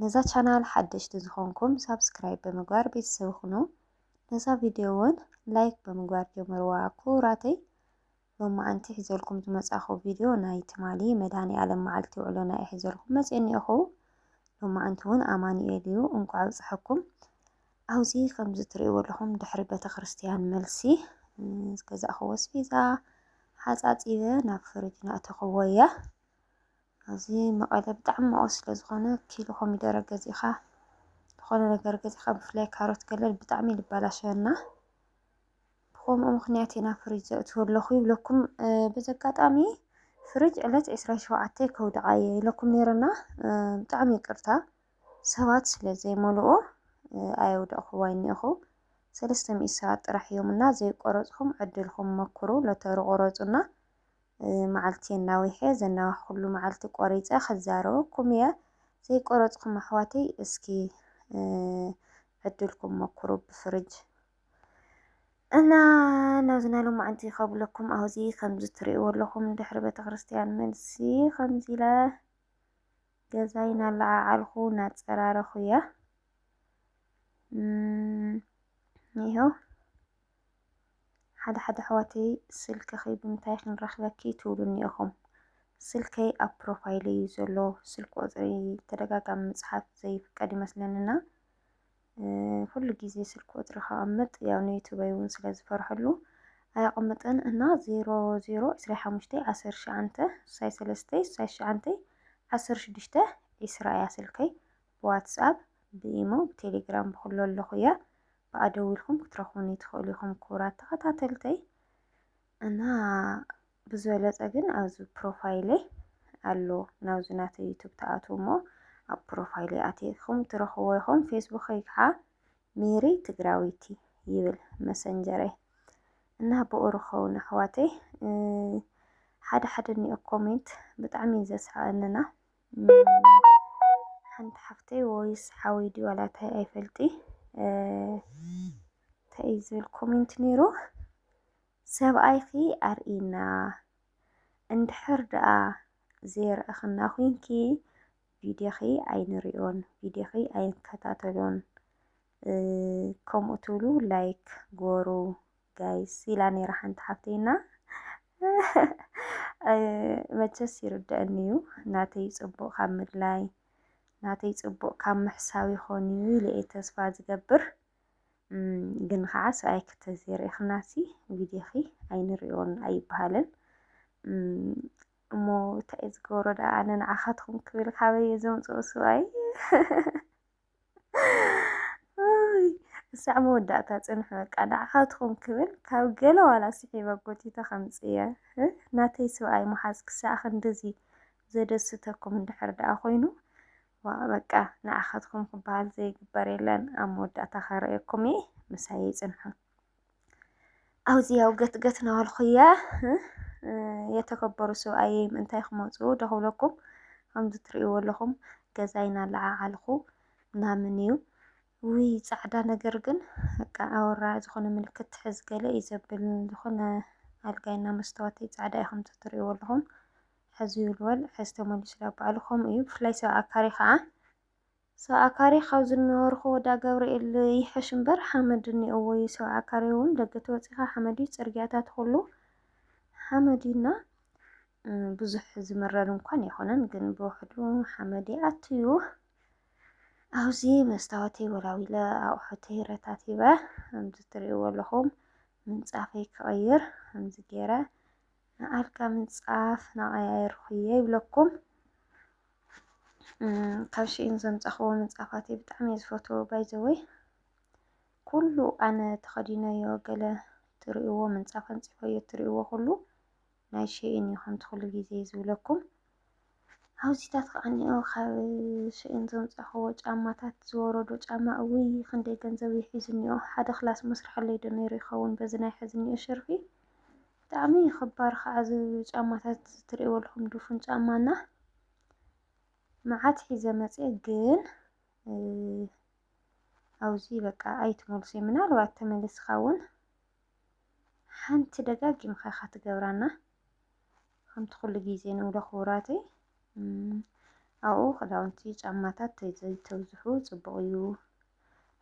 ነዛ ቻናል ሓደሽቲ ዝኾንኩም ሳብስክራይብ ብምግባር ቤተሰብ ይኹኑ። ነዛ ቪድዮ እውን ላይክ ብምግባር ጀምርዋ ክቡራተይ። ሎማዓንቲ ሒዘልኩም ዝመጻኹ ቪድዮ ናይ ትማሊ መድኃኔዓለም መዓልቲ ውዕሎና እየ ሒዘልኩም መጽየ እኒኦኹ። ሎማዓንቲ እውን ኣማኑኤል እዩ። እንኳዕ ኣብጽሐኩም። ኣብዚ ከምዚ ትርእይዎ ኣለኹም ድሕሪ ቤተ ክርስቲያን መልሲ ዝገዛእኽዎ ኣስቤዛ ሓጻጺበ ናብ ፍርጅ ናእተኽዎ እየ። እዚ መቐለ ብጣዕሚ መኦስ ስለ ዝኾነ ኪሎ ኮሚደረ ገዚእኻ ዝኾነ ነገር ገዚእኻ ብፍላይ ካሮት ገለ ብጣዕሚ ልባላሸወና ብኸምኡ ምኽንያት ኢና ፍሪጅ ዘእትዎ ኣለኹ ይብለኩም በዚ ኣጋጣሚ ፍሪጅ ዕለት 27 ከውድዓ እየ ኢለኩም ነይረና ብጣዕሚ ይቅርታ ሰባት ስለ ዘይመልኡ ኣየውደቕኹዋ እኒኹ ሰለስተ ሚእቲ ሰባት ጥራሕ እዮም እና ዘይቆረፅኹም ዕድልኹም መኩሩ ሎተሪ ቆረፁና መዓልቲ ኣናዊሐ ዘናዋሕኩሉ መዓልቲ ቆሪፀ ክዛረበኩም እየ ዘይቆረፅኩም ኣሕዋተይ እስኪ ዕድልኩም ሞክሩ ብፍርጅ እና ናብዚ ናይ ሎማዓንቲ ከብለኩም ኣብዚ ከምዚ ትሪእዎ ኣለኹም ድሕሪ ቤተክርስትያን መልሲ ከምዚ ኢለ ገዛይ ናለዓዓልኩ ናፀራረኹ እየ ይኸው ሓደ ሓደ ኣሕዋተይ ስልክኺ ብምንታይ ክንረኽበኪ ትብሉኒ ኢኹም። ስልከይ ኣብ ፕሮፋይለይ እዩ ዘሎ። ስልክ ቁፅሪ ተደጋጋሚ ምፅሓፍ ዘይፍቀድ ይመስለንና ኩሉ ግዜ ስልክ ቁፅሪ ከቐምጥ ያው ንዩቱበይ እውን ስለ ዝፈርሐሉ ኣየቐምጥን እና ዜሮ ዜሮ ዕስራ ሓሙሽተ ዓሰርተ ሸዓንተ ሳይ ሰለስተ ሳይ ሸዓንተ ዓሰርተ ሽዱሽተ ዒስራ እያ ስልከይ ብዋትስኣፕ ብኢሞ ብቴሌግራም ብኩሉ ኣለኹ እያ ብኣ ደዊልኩም ክትረኽቡኒ ትኽእሉ ኢኹም ክቡራት ተኸታተልተይ እና ብዝበለፀ ግን ኣብዚ ፕሮፋይለይ ኣሎ ናብዚ ናተይ ዩቱብ ትኣትዉ እሞ ኣብ ፕሮፋይለይ ኣቲኹም ትረኽብዎ ኢኹም ፌስቡከይ ከዓ ሜሪ ትግራዊቲ ይብል መሰንጀረይ እና ብኡ ርኸቡኒ ኣሕዋተይ ሓደ ሓደ እኒኦ ኮሜንት ብጣዕሚ እዩ ዘስሕቐንና ሓንቲ ሓፍተይ ወይስ ሓወይ ድዩ ዋላ እንታይ ኣይፈልጢ እንታይ እዩ ዝብል ኮሜንት ነይሩ ሰብኣይኺ ኣርእና እንድሕር ደኣ ዘይረእኽና ኮንኪ ቪድዮኺ ኣይንሪኦን ቪድዮኺ ኣይንከታተሎን ከምኡ ትብሉ ላይክ ጎሩ ጋይስ ኢላ ነይራ ሓንቲ ሓፍተይና መቸስ ይርድአኒ እዩ ናተይ ፅቡቅ ካብ ምድላይ ናተይ ፅቡቅ ካብ ምሕሳብ ይኾን እዩ ኢለ እየ ተስፋ ዝገብር እም፣ ግን ከዓ ሰብኣይ ክተዘይርኢኽናሲ ቪድዮኺ ኣይንሪኦን ኣይበሃልን እም፣ እሞ እንታይ እዩ ዝገብሮ ደኣ ኣነ ንዓኻትኩም ክብል ካበይ እየ ዘምፅኦ ሰብኣይ ክሳዕ መወዳእታ ፅንሑ በቃ ንዓኻትኩም ክብል ካብ ገለ ዋላ ስሒበ ጎቲተ ከምፅየ ናተይ ስብኣይ ምሓዝ ክሳዕ ክንድዚ ዘደስተኩም እንድሕር ደኣ ኮይኑ ዋ በቃ ንዓኻትኩም ክበሃል ዘይግበር የለን ኣብ መወዳእታ ከረእየኩም እየ ምሳይ ይፅንሑ ኣውፂ ያው ገትገት ናበልኩ እየ የተከበሩ ሰብኣየ ምእንታይ ክመፁ ደክብለኩም ከምዚ ትርእይዎ ኣለኹም ገዛይ እናለዓዓልኩ ምናምን እዩ ውይ ፃዕዳ ነገር ግን በቃ ኣወራ ዝኾነ ምልክት ትሕዝ ገለ እዩ ዘብል ዝኾነ ኣልጋይና መስተዋተይ ፃዕዳ እዩ ከምዚ ትርእይዎ ኣለኹም ሕዚ ይልወል ሕዚ ተመሊሱ ናብ ባዕሉ ከምኡ እዩ ብፍላይ ሰብ ኣካሪ ከዓ ሰብዓ ካሬ ካብ ዝነበርኩ ወዳ ገብርኤል ይሕሽ እምበር ሓመድ እኒኦዎ እዩ ሰብዓ ካሬ እውን ደገ ተወፂኻ ሓመድ እዩ ፅርግያታት ኩሉ ሓመድ እዩና ብዙሕ ዝምረር እንኳን ኣይኮነን ግን ብውሕዱ ሓመድ ይኣትዩ ኣብዚ መስታወተይ ወላዊለ ኣቑሑተይ ረታቲበ ከምዚ ትሪእዎ ኣለኹም ምንፃፈይ ክቕይር ከምዚ ገይረ ንኣልጋ ምንፃፍ ናቐያየርኩ እየ ይብለኩም ካብ ሽኢን ዘምጻኽዎ ምንጻፋት ብጣዕሚ እየ ዝፈትዎ ባይዘወይ ኩሉ ኣነ ተኸዲነዮ ገለ ትርእይዎ ምንጻፍ ኣንጺፈዮ ትርእይዎ ኩሉ ናይ ሽኢን እዩ ከምቲ ኩሉ ግዜ ዝብለኩም ኣብዚታት ከዓኒኦ ካብ ሽኢን ዘምጻኽዎ ጫማታት ዝወረዶ ጫማ እውይ ክንደይ ገንዘብ ይሒዙ እኒኦ ሓደ ክላስ መስርሐለይ ዶ ነይሩ ይኸውን በዚ ናይ ሕዚ እኒኦ ሸርፊ ብጣዕሚ እዩ ኽባር ኸዓ እዚ ጫማታት ትሪእዎ ኣለኹም ድፉን ጫማ እና መዓት ሒዘ መፂኤ ግን ኣብዚ በቃ ኣይትመልሶ ምናልባት ተመልስኻ እውን ሓንቲ ደጋጊምኻ ኢኻ ትገብራ እና ከምቲ ኩሉ ግዜ ንብሎ ክቡራተይ ኣብኡ ክዳውንቲ ጫማታት ዘይተብዝሑ ፅቡቕ እዩ።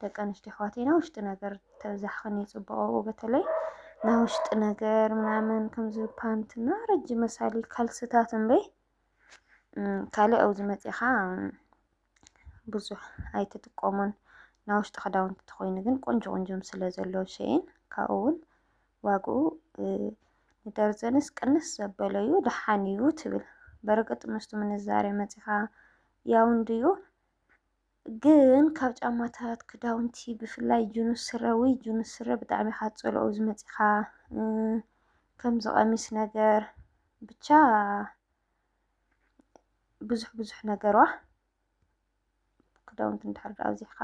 ደቂ ኣንስትዮ ኣሕዋተይ ናይ ውሽጢ ነገር ተብዛሕኽን እዩ ፅቡቕ ኣብኡ በተለይ ናይ ውሽጢ ነገር ምናምን ከምዚ ፓንትና ረጅም መሳሊ ካልስታት እምበይ ካልእ ኣብዚ መፂእኻ ብዙሕ ኣይትጥቀሙን ናይ ውሽጢ ክዳውንቲ ተኮይኑ ግን ቆንጆ ቆንጆም ስለ ዘሎ ሸይን ካብኡ እውን ዋግኡ ንደርዘንስ ቅንስ ዘበለ እዩ ደሓን እዩ ትብል በርግጥ ምስቱ ምንዛሬ መፂኻ ያው እንድዩ ግን ካብ ጫማታት ክዳውንቲ ብፍላይ ጅኑ ስረ ወይ ጅኑ ስረ ብጣዕሚ ካብ ፀልኦ ዝመፂኻ ከምዚ ቀሚስ ነገር ብቻ ብዙሕ ብዙሕ ነገሯ ክዳውንቲ እንድሕር ዳኣ ኣብዚሕካ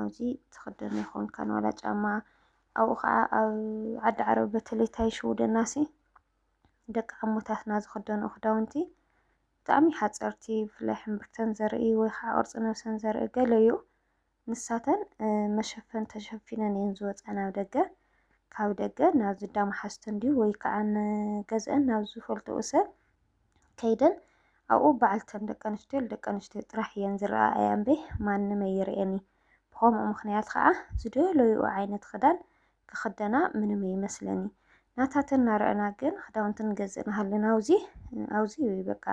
ኣብዚ ትኽደኖ ይኾንካን ዋላ ጫማ ኣብኡ ከዓ ኣብ ዓዲ ዓረብ በተለይ ታይ ሽውደናሲ ደቂ ዓሞታትና ዝኽደንኦ ክዳውንቲ ብጣዕሚ ሓፀርቲ ብፍላይ ሕምብርተን ዘርኢ ወይ ከዓ ቅርፂ ነብሰን ዘርኢ ገለ እዩ። ንሳተን መሸፈኒ ተሸፊነን እየን ዝወፃ ናብ ደገ። ካብ ደገ ናብ ዝዳ መሓዝተን ድዩ ወይ ከዓ ንገዝአን ናብ ዝፈልጥኡ ሰብ ከይደን ኣብኡ በዓልተን ደቂ ኣንስትዮ ደቂ ኣንስትዮ ጥራሕ እየን ዝረኣያ እምበይ ማንም ኣይርኤን እዩ። ብኸምኡ ምኽንያት ከዓ ዝደለይኡ ዓይነት ክዳን ክኽደና ምንም ኣይመስለኒ ናታተን ናረኣና ግን ክዳውንቲ ንገዝእ ንሃልን ኣውዚ ኣውዚ ወይ በቃ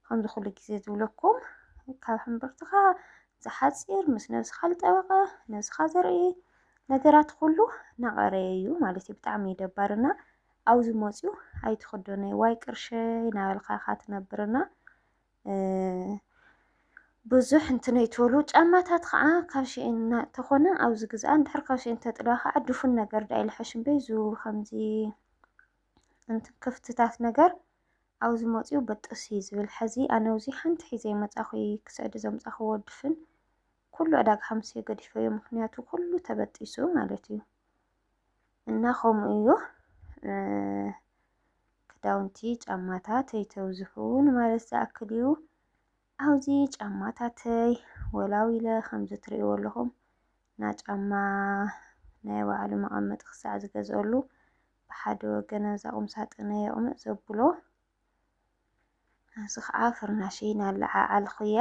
ከምዚ ኩሉ ግዜ ዝብለኩም ካብ ሕምብርትኻ ዝሓፂር ምስ ነብስኻ ዝጠበቐ ነብስኻ ዘርኢ ነገራት ኩሉ ናቐረየ እዩ ማለት እዩ ብጣዕሚ እዩ ደባርና ኣብዚ መፅኡ ኣይትኽደኖ ዋይ ቅርሸይ ናበልካ ኢኻ ትነብርና ብዙሕ እንትነይ ትበሉ ጫማታት ከዓ ካብ ሽኤን ተኾነ ኣብዚ ግዝኣ እንድሕር ካብ ሽኤን ተጥለዋ ከዓ ድፉን ነገር ዳ ኢልሐሽም በይዙ ከምዚ እንት ክፍትታት ነገር ኣብዚ መፅኡ በጥስ እዩ ዝብል ሐዚ ኣነ ውዚ ሓንቲ ሒዘ መፃኹ ክስዕዲ ዘምፃኽዎ ድፍን ኩሉ ዕዳጋ ሓምስዮ ገዲፈዮ ምክንያቱ ኩሉ ተበጢሱ ማለት እዩ እና ከምኡ እዩ ክዳውንቲ ጫማታት ኣይተብዝሑን ማለት ዝኣክል እዩ ኣብዚ ጫማታተይ ወላው ኢለ ከምዚ ትርእይዎ ኣለኹም እና ጫማ ናይ ባዕሉ መቐመጢ ክሳዕ ዝገዝአሉ ብሓደ ወገን ኣብዛ ቁም ሳጥነ የቕምጥ ዘብሎ እዚ ከዓ ፍርናሸይ ናለዓዓልኩ እያ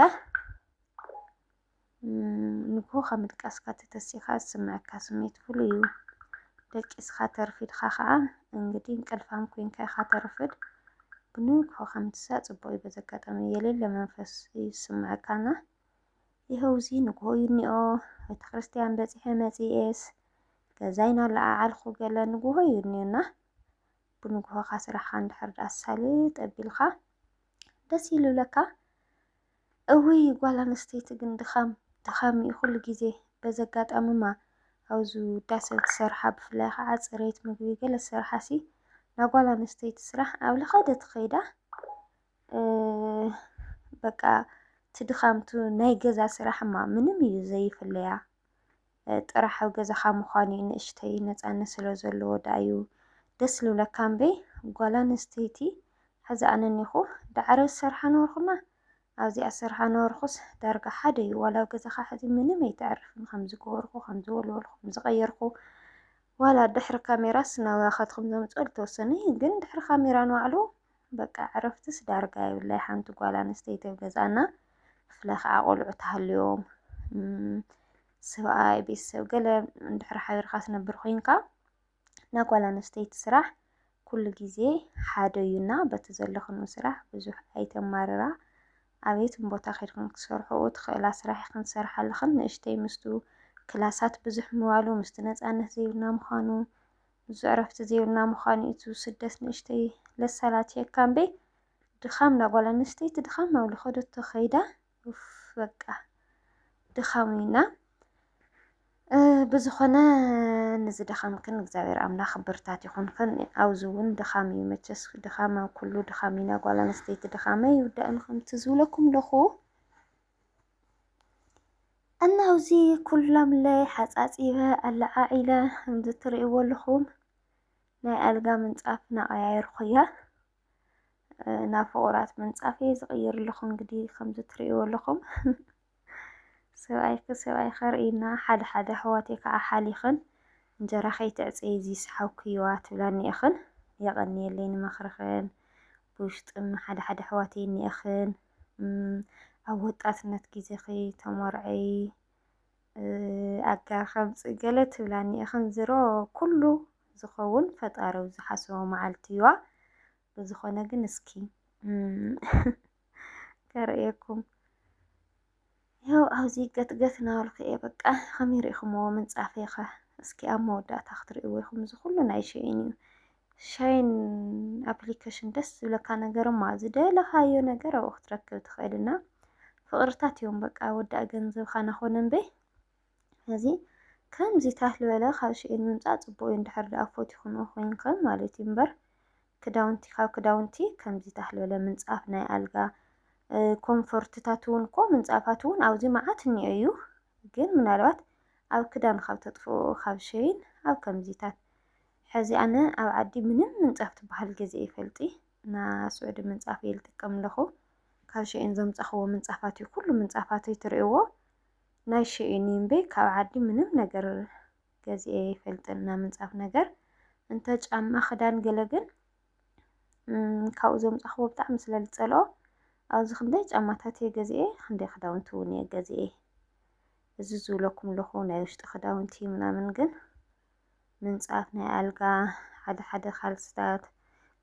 ንግሆ ካብ ምድቃስካ ተተሲኻ ዝስምዐካ ስምዒት ፍሉይ እዩ። ደቂስካ ተርፊድካ ከዓ እንግዲህ እንቅልፋም ኮይንካ ኢኻ ተርፍድ። ብንግሆ ከም ትሳእ ጽቡቕ እዩ። በዚ ኣጋጣሚ የሌለ መንፈስ እዩ ዝስምዐካና። ይኸው እዚ ንግሆ እዩ እኒኦ ቤተ ክርስቲያን በጺሐ መጺኤስ ገዛይ ናለዓዓልኩ ገለ ንግሆ እዩ እኒኦና ብንግሆኻ ስራሕኻ እንድሕር ደኣ ሳልጥ ኣቢልካ ደስ ይልብለካ። እውይ ጓል ኣንስተይቲ ግን ድኻም ድኻም እዩ ኩሉ ግዜ በዚ ኣጋጣምማ ኣብ ዝውዳሰ ትሰርሓ ብፍላይ ከዓ ፅሬት ምግቢ ገለ ዝሰርሓ ሲ ናይ ጓል ኣንስተይቲ ስራሕ ኣብ ልኸደ ትኸይዳ በቃ እቲ ድኻምቱ ናይ ገዛ ስራሕማ ምንም እዩ ዘይፍለያ ጥራሕ ኣብ ገዛኻ ምዃን እዩ ንእሽተይ ነፃነት ስለ ዘለዎ ደኣ እዩ ደስ ልብለካ እምበይ ጓል ኣንስተይቲ ሕዚ ኣነ እኒኹ ዳዕረ ዝሰርሓ ነበርኩና ኣብዚኣ ዝሰርሓ ነበርኩስ ዳርጋ ሓደ እዩ ዋላ ኣብ ገዛኻ ሕዚ ምንም ኣይተዕርፍን ከም ዝገበርኩ ከም ዝወልወልኩ ከም ዝቐየርኩ ዋላ ድሕሪ ካሜራስ ናብራኻትኩም ዘምፅኦ ዝተወሰነ እዩ ግን ድሕሪ ካሜራ ንባዕሉ በቃ ዕረፍትስ ዳርጋ የብላይ ሓንቲ ጓል ኣንስተይቲ ኣብ ገዛና ብፍላይ ከዓ ቆልዑ ተሃልዮም ሰብኣይ ቤተሰብ ገለ እንድሕር ሓቢርካ ትነብር ኮይንካ ናይ ጓል ኣንስተይቲ ስራሕ ኩሉ ግዜ ሓደ እዩና በቲ ዘለኽኑ ስራሕ ብዙሕ ኣይተማርራ ኣቤትን ቦታ ከድክን ክትሰርሕኡ ትኽእላ ስራሕ ይኽን ትሰርሓ ኣለኽን ንእሽተይ ምስቱ ክላሳት ብዙሕ ምባሉ ምስቲ ነፃነት ዘይብልና ምዃኑ ብዙ ዕረፍቲ ዘይብልና ምዃኑ'ዩ እቲ ስደት ንእሽተይ ለሳላትየካ እምበይ ድኻም ናጓል ኣንስተይቲ ድኻም ናብ ልኸደቶ ከይዳ ኡፍ በቃ ድኻም እዩና ብዝኾነ ንዚ ድኻምክን እግዚኣብሔር ኣምላኽ ብርታት ይኹንክን ኣብዚ እውን ድኻም እዩ መቸስ ድኻም ኣብ ኩሉ ድኻም እዩ ናጓል ኣንስተይቲ ድኻመ ይውዳእን ከምቲ ዝብለኩም ለኹ እና ኣብዚ ኩላምለይ ሓፃፂበ ኣለዓዒለ ከምዚ ትሪእዎ ኣለኹም ናይ ኣልጋ ምንፃፍ እናቐያየርኩ እየ። ናብ ፍቑራት ምንፃፍ እየ ዝቕይረልኹ እንግዲህ ከምዚ ትሪእዎ ኣለኹም። ሰብኣይ ሰብኣይ ከርእይና ሓደ ሓደ ኣሕዋተይ ከዓ ሓሊኽን እንጀራ ከይተዕፀዪ እዚ ሰሓብክይዋ ትብላኒ እኽን። የቐንየለይ ንመኽርኽን ብውሽጢ ሓደ ሓደ ኣሕዋተይ እኒእኽን። ኣብ ወጣትነት ግዜኺ ተሞርዐዪ ኣጋር ከምጽእ ገለ ትብላኒ ኢኽን ዝሮ ኩሉ ዝኸውን ፈጣሪ ኣብ ዝሓሰቦ መዓልቲ እዩዋ ብዝኾነ ግን እስኪ ከርእየኩም ያው ኣብዚ ገት ገት ናበልኩ እየ በቃ ከመይ ሪኢኹምዎ ምንጻፈይ ከ እስኪ ኣብ መወዳእታ ክትርእይዎ ኢኹም እዚ ኩሉ ናይ ሸይን እዩ ሻይን ኣፕሊኬሽን ደስ ዝብለካ ነገር እማ ዝደለኻዮ ነገር ኣብኡ ክትረክብ ትኽእል እና ፍቕርታት እዮም በቃ ወዳእ ገንዘብካ ናኾነ እምበይ ስለዚ ከምዚ ታህ ልበለ ካብ ሽኤን ምምጻእ ጽቡቅ እዩ እንድሕር ድኣ ፎቲኹምኦ ኮይንከም ማለት እዩ እምበር ክዳውንቲ ካብ ክዳውንቲ ከምዚ ታህ ልበለ ምንጻፍ ናይ ኣልጋ ኮንፎርትታት እውን እኮ ምንጻፋት እውን ኣብዚ መዓት እኒኦ እዩ ግን ምናልባት ኣብ ክዳን ካብ ተጥፍኡ ካብ ሸይን ኣብ ከምዚታት ሕዚ ኣነ ኣብ ዓዲ ምንም ምንጻፍ ትበሃል ገዜ ይፈልጢ እና ስዑዲ ምንጻፍ እየ ልጥቀም ኣለኹ ካብ ሸይን ዘምጻኽዎ ምንጻፋት እዩ ኩሉ ምንጻፋተይ ትርእዎ ናይ ሽዑ ኒምበይ ካብ ዓዲ ምንም ነገር ገዚኤ ኣይፈልጥን እና ምንፃፍ ነገር እንተ ጫማ ክዳን ገለ ግን ካብኡ ዘምፃኽዎ ብጣዕሚ ስለ ዝፀልኦ ኣብዚ ክንደይ ጫማታት እየ ገዚኤ ክንደይ ክዳውንቲ እውን እየ ገዚኤ እዚ ዝብለኩም ኣለኹ ናይ ውሽጢ ክዳውንቲ ምናምን ግን ምንፃፍ ናይ ኣልጋ ሓደ ሓደ ካልስታት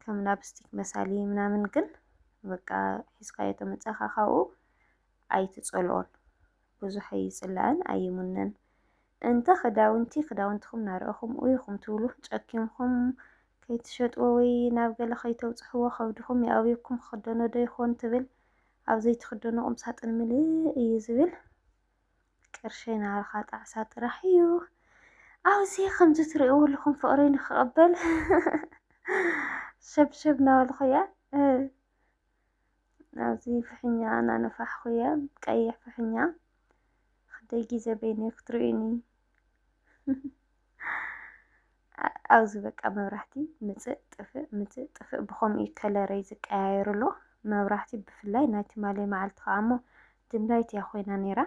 ከም ላፕስቲክ መሳሊ ምናምን ግን በቃ ሒዝካዮ ተመፃኻ ካብኡ ኣይትጸልኦን ብዙሕ ኣይጽላእን ኣይሙነን እንተ ክዳውንቲ ክዳውንትኹም ናረእኹም ኡይ ኹም ትብሉ ጨኪንኹም ከይትሸጥዎ ወይ ናብ ገለ ከይተብጽሕዎ ከብድኹም ይኣብየኩም ክኽደኖ ዶ ይኾን ትብል ኣብ ዘይትኽደኖ ቁምሳጥን ምልእ እዩ ዝብል ቅርሸይ ናባኻ ጣዕሳ ጥራሕ እዩ ኣብዚ ከምዚ ትርእይዎ ኣለኹም ፍቕረይ ንክቕበል ሸብሸብ ናበልኹ እያ ኣብዚ ፍሕኛ እናነፋሕኹ እየ ቀይሕ ፍሕኛ ክደይ ግዜ በይነይ ክትርእዩኒ ኣብዚ በቃ መብራህቲ ምፅእ ጥፍእ ምፅእ ጥፍእ ብኸምኡ እዩ ከለረይ ዝቀያየር ኣሎ መብራህቲ ብፍላይ ናይ ትማሊ መዓልቲ ከዓ እሞ ድምላይት እያ ኮይና ነይራ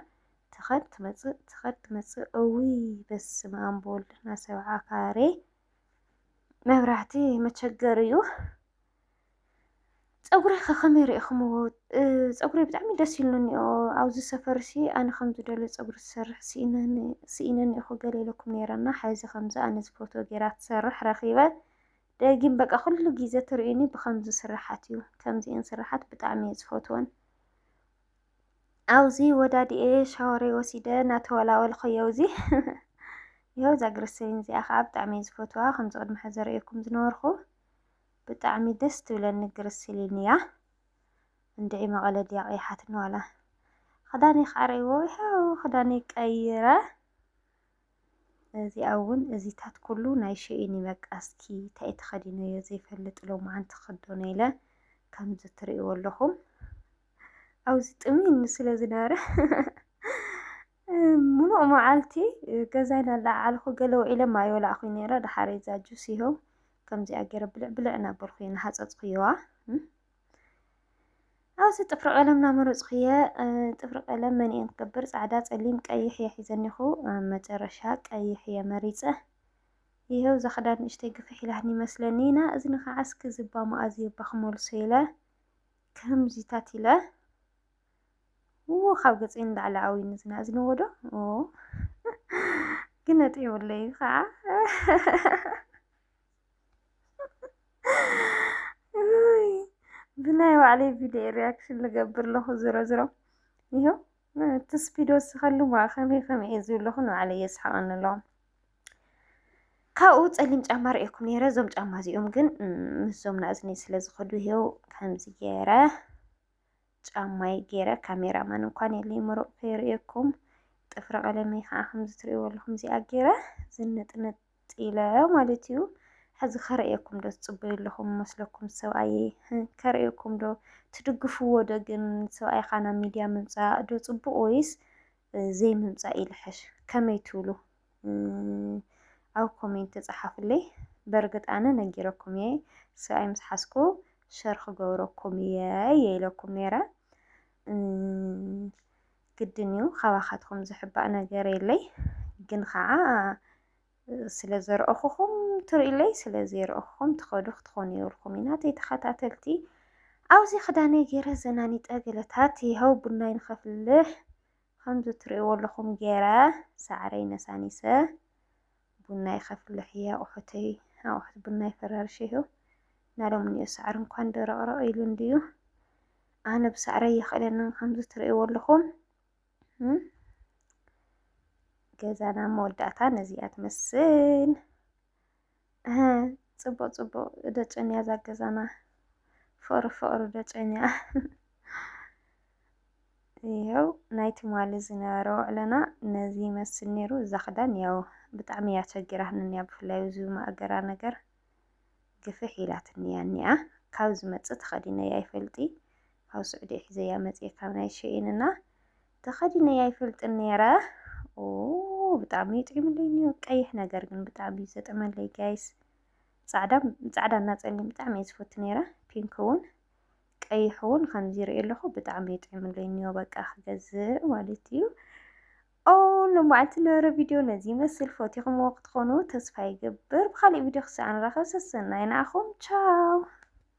ትኸድ ትመፅእ ትኸድ ትመፅእ እውይ በስመ ኣብ በወልድ ናሰብዓ ካሬ መብራህቲ መቸገሪ እዩ ፀጉረይ ከ ከመይ ሪኢኽምዎ? ፀጉረይ ብጣዕሚ ደስ ኢሉኒ እኒኦ ኣብዚ ሰፈር ሲ ኣነ ከም ዝደልዮ ፀጉሪ ዝሰርሕ ስኢነ እኒኦኹ ገለ ኢለኩም ነይረ እና ሐዚ ከምዚ ኣነ ዝፈትዎ ገይራ ትሰርሕ ረኺበ ደጊም በቃ ኩሉ ግዜ ትርእዩኒ ብከምዚ ስራሓት እዩ ከምዚኤን ስራሓት ብጣዕሚ እየ ዝፈትወን ኣብዚ ወዳድኤ ሻወረይ ወሲደ እናተወላወልኸዮ እዚ ይኸው እዛ ግሪሰሊን እዚኣ ከዓ ብጣዕሚ እየ ዝፈትዋ ከምዚ ቅድሚ ሕዚ ዘርእየኩም ዝነበርኩ ብጣዕሚ ደስ ትብለኒ ግርስሊን እያ እንድዒ መቐለ ድያ ቀይሓትኒ ዋላ ክዳነይ ከዓ ረእይዎ ይኸው ክዳነይ ቀይረ እዚኣ እውን እዚታት ኩሉ ናይ ሸኢን እዩ በቃ እስኪ እንታይ ተኸዲነዮ ዘይፈልጥ ሎማዓንቲ ክኽደኖ ኢለ ከምዚ ትርእይዎ ኣለኹም ኣብዚ ጥሙይኒ ስለ ዝነበረ ሙሉእ መዓልቲ ገዛይ ናለዓዓልኩ ገለ ውዒለማ ኣይወላዕኹይ ነይረ ደሓር እዛ ጁስ ይኸው ከምዚኣ ገይረ ብልዕ ብልዕ እናበልኩ እየ እናሃፀፅኩየዋ ኣብዚ ጥፍሪ ቀለም ናመረፅኩ እየ ጥፍሪ ቀለም መን እየን ክገብር ፃዕዳ ፀሊም ቀይሕ እየ ሒዘኒኹ መጨረሻ ቀይሕ እየ መሪፀ ይኸው እዛ ክዳን ንእሽተይ ግፍሕ ኢላትኒ ይመስለኒ ኢና እዚ ንኸዓ እስኪ ዝባ መኣዝየባ ክመልሶ ኢለ ከምዚታት ኢለ ው ካብ ገፀይ ንላዕሊ ኣውይ ንዝናዝንዎ ዶ ግን ነጢዑለይ ከዓ ብናይ ባዕለይ ቪድዮ ሪያክሽን ልገብር ኣለኹ ዝሮ ዝሮ ይኸው እቲ ስፒድ ወስኸሉ ከመይ ከመይ እየ ዝብለኹ ንባዕለ የስሓቐኒ ኣለኹ ካብኡ ፀሊም ጫማ ርእየኩም ነይረ እዞም ጫማ እዚኦም ግን ምስዞም ናእዝኒ ስለ ዝኸዱ ይኸው ከምዚ ገይረ ጫማይ ጌረ ካሜራ ማን እንኳን የለይ ምሩቅ ከይርእየኩም ጥፍሪ ቀለመይ ከዓ ከምዚ ትርእይዎ ኣለኹም እዚኣ ጌረ ዝንጥንጥ ኢለ ማለት እዩ ሕዚ ከርእየኩም ዶ ትፅበዩ ኣለኹም መስለኩም ሰብኣየ ከርእየኩም ዶ ትድግፍዎ ዶ ግን ሰብኣይካ ናብ ሚድያ ምምፃእ ዶ ፅቡቅ ወይስ ዘይምምፃእ ይልሕሽ ከመይ ትብሉ ኣብ ኮሜንት ጸሓፉለይ በርግጥ ኣነ ነጊረኩም እየ ሰብኣይ ምስ ሓዝኩ ሸር ክገብረኩም እየ እየ ኢለኩም ነይረ ግድን እዩ ካባኻትኩም ዝሕባእ ነገር የለይ ግን ከዓ ስለ ዘርእኹኹም ትርእለይ ስለ ዘይርእኹኹም ትኸዱ ክትኾኑ የብልኩም ኢና ተይተኸታተልቲ ኣብዚ ክዳነይ ገይረ ዘናኒጠ ገለታት ይኸው ቡናይ ንኸፍልሕ ኸምዚ ትርእይዎ ኣለኹም ገይረ ሳዕረይ ነሳኒሰ ቡናይ ከፍልሕ እየ ኣቑሑተይ ኣቑሑት ቡናይ ፈራርሸ ይኸው እና ሎሚ እኒኦ ሳዕሪ እንኳን ደረቕረቕ ኢሉ እንድዩ ኣነ ብሳዕረይ ይኽእለንን ኸምዚ ትርእይዎ ኣለኹም ገዛና መወዳእታ ነዚኣ ትመስል እህ ጽቡቅ ጽቡቅ ደጨንያ ዛገዛና ፍቅሪ ፍቅሪ ደጨንያ ይኸው ናይ ትማሊ ዝነበረ ውዕለና ነዚ ይመስል ነይሩ። እዛ ክዳን ያው ብጣዕሚ እያ ቸጊራትንያ ብፍላይ እዚ ማእገራ ነገር ግፍሕ ኢላትንያ እኒኣ ካብ ዝመፅእ ተኸዲነያ ይፈልጢ ካብ ስዑዲ ሒዘያ መፅኤ ካብ ናይ ሸኢንና ተኸዲነያ ኣይፈልጥን ነይረ ብጣዕሚ ይጥዕምለይ እኒኦ ቀይሕ ነገር ግን ብጣዕሚ እዩ ዘጥዕመለይ ጋይስ ፃዕዳ ፃዕዳ እና ፀሊም ብጣዕሚ እየ ዝፈቱ ነይረ ፒንክ እውን ቀይሕ እውን ከምዚ ይርኢ ኣለኹ ብጣዕሚ ይጥዕምለይ እኒኦ በቃ ክገዝእ ማለት እዩ ኦ ንመዓልቲ ነበረ ቪድዮ ነዚ ይመስል ፈቲኹምዎ ክትኾኑ ተስፋ ይገብር ብካሊእ ቪድዮ ክሳዕ ንራኸብ ሰሰናይ ንዓኹም ቻው